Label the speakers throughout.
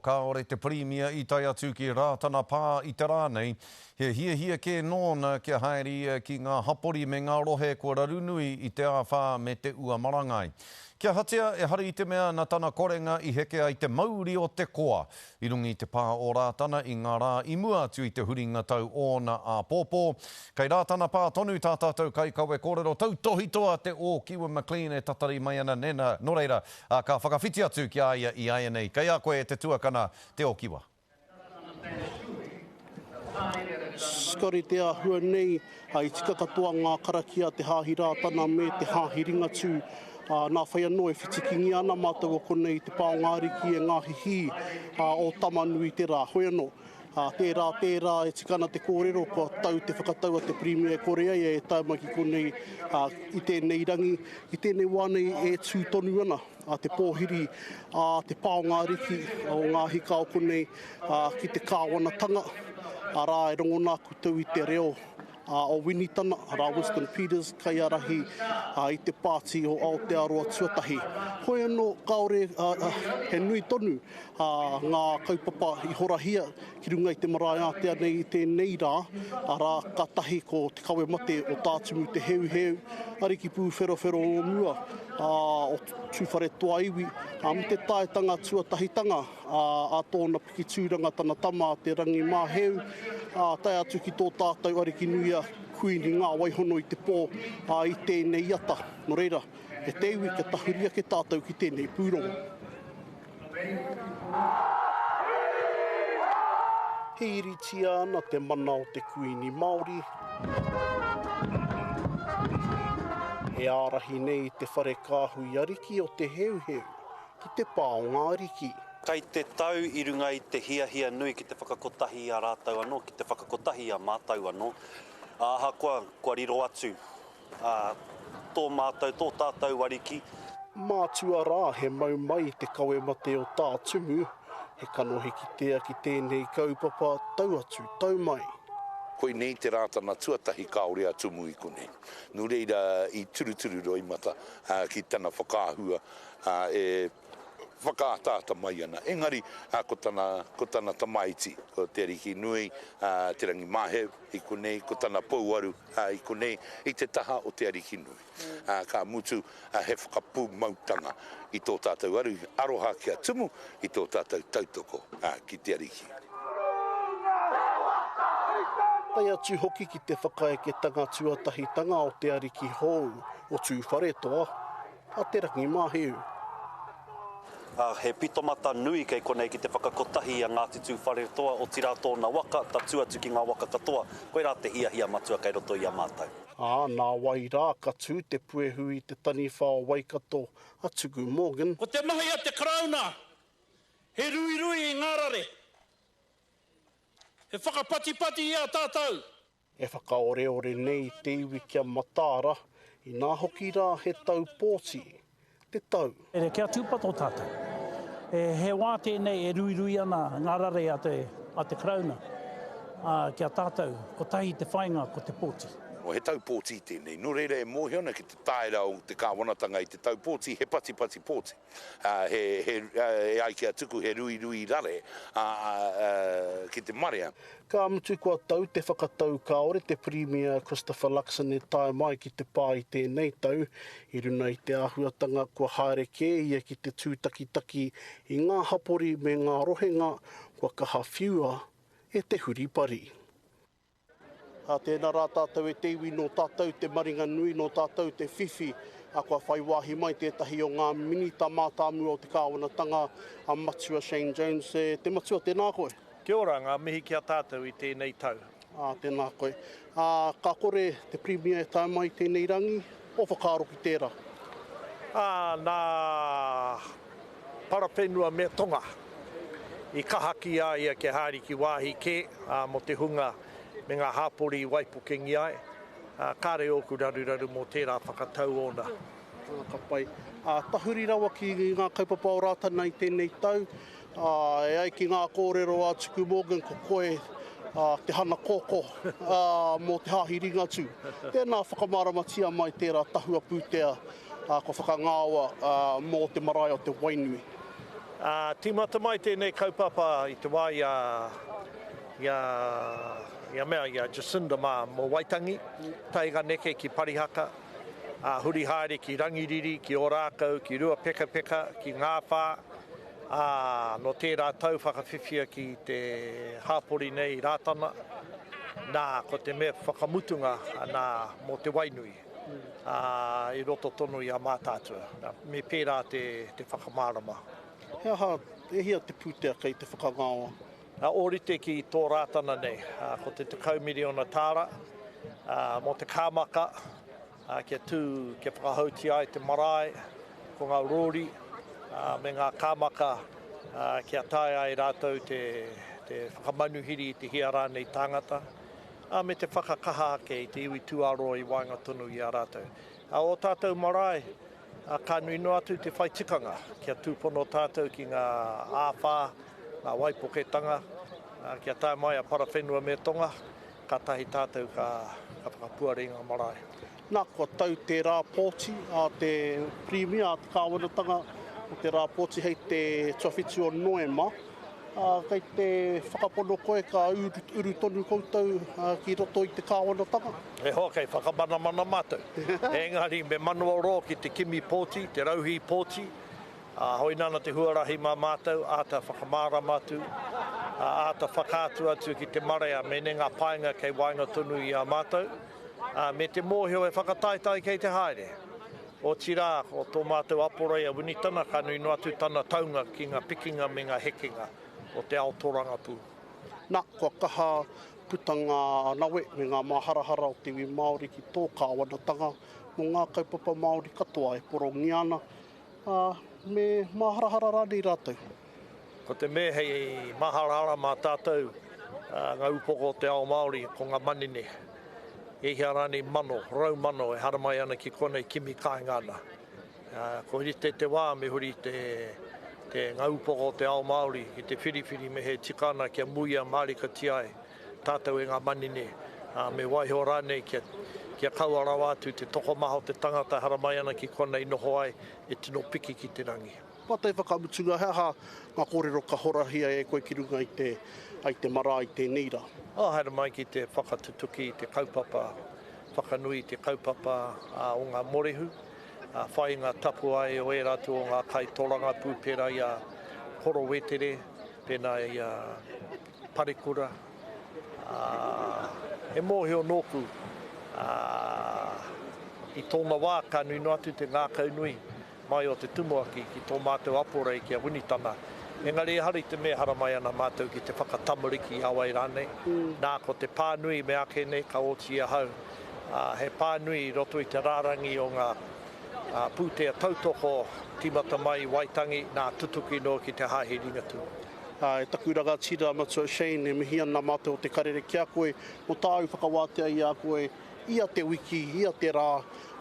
Speaker 1: Kāore te Pirimia i tae atu ki Rātana Pā i te rā nei, he hiahia kē nōna kia haere ia ki ngā hapori me ngā rohe kua raru nui i te āwhā me te ua marangai. Ki a Hatea, ehara i te mea na tana korenga i heke ai te mauri o te koa. I runga i te pā o Rātana i ngā rā i mua atu i te huringa tau ōna āpōpō, kei Rātana Pā tonu tā tātou kaikawe kōrero tautohitoa te Ōkiwa McLean e tatari mai ana nena, nō reira, Ā, ka whakawhiti atu ki a ia iāianei, Kei a koe te tuakana, te okiwa.
Speaker 2: Scotty, Te āhua nei, i tika katoa ngā karakia, te hāhi Rātana me te hāhi Ringatū, ā, nā whai anō e whitikingia ana mātou o konei i te pā o ngā ariki e ngā hihī, ā, o Tamanui te rā. Hoi anō. Ā, tērā, tērā e tika ana te kōrero kua tau te whakatau a te Pirimia e kore ai e tae mai ki konei, ā, i tēnei rangi, i tēnei wā nei e tū tonu ana a te pōhiri, ā, te paonga ariki o ngā hika o konei, ā, ki te kāwanatanga, arā, e rongona koutou i te reo a o Winitana, rā Winston Peters, kaiarahi i te pāti o Aotearoa Tuatahi. Hoi anō, kāore he nui tonu ngā kaupapa i horahia ki runga i te marae ātea nei i tēnei rā, arā, ka tahi ko te kawe mate o Tā Tumu Te Heuheu, ariki pūwherowhero o mua, o Tūwharetoa iwi, me te taetanga tuatahitanga. ā, a tōna piki tūranga tana tama a Te Rangimāheu, ā, tae atu ki tō tātou ariki nui a Kuini Ngāwaihono i te pō, ā, i tēnei ata. Nō reira, e te iwi kia tahuri ake tātou ki tēnei pūrongo. Hīritia ana te mana o te Kuini Māori, e ārahi nei i te whare kāhui ariki o Te Heuheu, ki te pā o ngā ariki. Kai te tau
Speaker 3: i runga i te hiahia nui ki te whakakotahi i a rātou anō, ki te whakakotahi i a mātou anō, ā, ahakoa kua riro atu tō mātou, tō tātou ariki. Mātua
Speaker 2: rā, he mau mai te kawe mate o Tā Tumu, he kanohi kitea ki tēnei kaupapa, tau atu, tau mai. Koinei
Speaker 4: te Rātana tuatahi kāore a Tumu i konei. Nō reira, i turuturu roimata ki tana whakaahua ā, e whakaataata mai ana. Engari, ko tana, ko tana tamaiti, ko Te Arikinui, ā, Te Rangimāheu i konei, ko tana pouaru, ā, i konei, i te taha o Te Arikinui. Ā, ka mutu, ā, he whakapūmautanga i tō tātou aru, aroha ki a Tumu, i tō tātou tautoko, ā, ki te Ariki.
Speaker 2: Tae atu hoki ki te whakaeketanga tuatahitanga o te Ariki hou, o Tūwharetoa. a Te Rangimahiu.
Speaker 3: Ā, he pitomata nui kei konei ki te whakakotahi i a Ngāti Tūwharetoa, otirā tōna waka, tatū atu ki ngā waka katoa, koirā te hiahia matua kei roto i a mātou. Ā, nā wai
Speaker 2: rā ka tū te puehu i te taniwha o Waikato a Tuku Morgan? Ko te mahi a te
Speaker 5: Karauna he ruirui i ngā rare, he whakapatipati i a tātou. E
Speaker 2: whakaoreore nei te iwi ki a Mataara, inā hoki rā he tau pōti, te tau. Here kia tūpato
Speaker 6: tātou. He wā tēnei e ruirui ana ngā rare a te a te Karauna ki a tātou, kotahi te whāinga ko te pōti. Nō he tau pōti
Speaker 4: tēnei, nō reira e mōhio ana ki te tāera o te kāwanatanga i te tau pōti, he patipati pōti. e ai ki a Tuku he ruirui rare ki te marea. Ka mutu kua
Speaker 2: tau te whakatau kāore te Pirimia Christopher Luxon e tae mai ki te pā i tēnei tau, i runa i te āhuatanga kua haere kē ia ki te tūtakitaki i ngā hapori me ngā rohenga kua kaha whiua e te huripari. Tēnā rā tātou e te iwi nō tātou te maringa nui, nō tātou te whiwhi. Kua whai wāhi mai tētahi o ngā Minita mātāmua o te kāwanatanga, a Matua Shane Jones. E te Matua, tēnā koe. Kia ora, ngā mihi
Speaker 5: ki a tātou i tēnei tau. Tēnā koe.
Speaker 2: Ka kore te Pirimia e tae mai i tēnei rangi. Kua whakaaro ki tērā. Ā,
Speaker 5: nā Parawhenua me Tonga i kaha ki a ia kia haere ki wāhi kē, ā, mō te hunga me ngā hapori i waipukengia ai, ā, kāre ōku raruraru mō tērā whakatau ōna. Ā, ka pai.
Speaker 2: Ā, tahuri rawa ki ngā kaupapa o Rātana i tēnei tau, E ai ki ngā kōrero a Tuku Morgan ko koe te hana koko mō te Hāhi Ringatū. Tēnā whakamāramatia mai tērā tahua pūtea kua whakangāoa mō te marae o Te Wainui.
Speaker 5: Tīmata mai tēnei kaupapa i te wā i a i a mea i a Jacinda mā mō Waitangi, taenga neke ki Parihaka, huri haere ki Rangiriri, ki Ōrākau, ki Ruapekapeka, ki Ngāwhā, Ā, nō tērā tau whakawhiwhia ki te hāpori nei Rātana, nā, ko te mea whakamutunga, nā, mō te Wainui, ā, i roto tonu i a Mātaatua, nā, me pērā te, te whakamārama. He aha,
Speaker 2: e hia te pūtea kei te whakangaoa? Ā, ōrite ki
Speaker 5: tō Rātana nei, ā, ko te tekau miriona tāra, ā, mō te kāmaka, Ā, kia tū, kia whakahoutia ai te marae, ko ngā rōri, ā, me ngā kāmaka, ā, kia taea e rātou te, te whakamanuhiri i te hia rānei tāngata, ā, me te whakakaha ake i te iwi tūāroa i waenga tonu i a rātou. Ā, ō tātou marae, ā, ka nui noa atu te whai tikanga, kia tūpono tātou ki ngā āwhā, ngā waipoketanga, ā, kia tae mai a Parawhenua me Tonga, Kātahi tātou ka whakapuare i ngā marae. Nā, kua tau
Speaker 2: te rā pōti a te Pirimia, a te Kāwanatanga o te rā pōti hei te tuawhitu o Noema. Kei te whakapono koe ka uru tonu koutou ki roto i te Kāwanatanga? He hoa kei
Speaker 5: whakamanamana mātou. Engari me manawarō ki te kimi pōti, te rauhī pōti. Ā, hoi nāna te huarahi mā mātou āta whakamārama atu, ā, āta whakaatu atu ki te marea mēnei ngā painga kei waenga tonu i a mātou, ā, me te mōhio e whakataetae kei te haere. Otirā, ko tō mātou aporei a Winitana ka nui noa atu tana taunga ki ngā pikinga me ngā hekenga o te ao tōrangapū. Nā, kua
Speaker 2: kaha puta ngā nawe me ngā māharahara o te iwi Māori ki tō kāwanatanga mō ngā kaupapa Māori katoa e porongia ana, Ā, me māharahara rānei rātou? Ko te
Speaker 5: mea hei māharahara mā tātou ngā upoko o te ao Māori, ko ngā manene. E hia rānei mano, rau mano e haramai ana ki konei kimi kāinga ana. Ā, kua rite te wā me huri te, te, ngā upoko o te ao Māori ki te whiriwhiri me he tika ana kia muia mārikatia ai. Tātou e ngā manene, ā, me waiho rānei kia, kia kaua rawa atu te tokomaha o te tangata e haramai ana ki konei noho ai, e tino piki ki te rangi. Ngā tai whakamutunga,
Speaker 2: he aha ngā kōrero ka horahia e koe ki runga i te, i te marae tēnei rā? Oh, haere mai ki
Speaker 5: te whakatutuki i te kaupapa whakanui i te kaupapa o ngā morehu, ā, whai ngā tapuae o ērā atu o ngā kai tōrangapū pērā i a Horo Wetere, pēnā i a. Parekura, ā, he mōhio nōku, ā, i tōna wā ka nui noa atu te ngākaunui mai o te tumuaki ki tō mātou aporei ki a Winitana, engari ehara i te mea haramai ana mātou ki te whakatamariki i a wai rānei, nā, ko te pānui me āke nei ka oti ahau, ā, he pānui i roto i te rārangi o ngā, ā, pūtea tautoko tīmata mai i Waitangi, nā, tutuki noa ki te Hāhi Ringatū. Ā, e taku
Speaker 2: rangatira matua Shane, e mihi ana mātou o Te Karere ki a koe mō tāu whakawātea i a koe ia te wiki, ia te rā,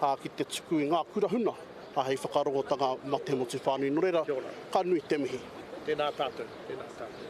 Speaker 2: ā, ki te tuku i ngā kura huna, ā, hei whakarongotanga mā te motu whānui. Nō reira,
Speaker 5: ka
Speaker 2: nui te mihi. Tēnā tātou. Tēnā tātou.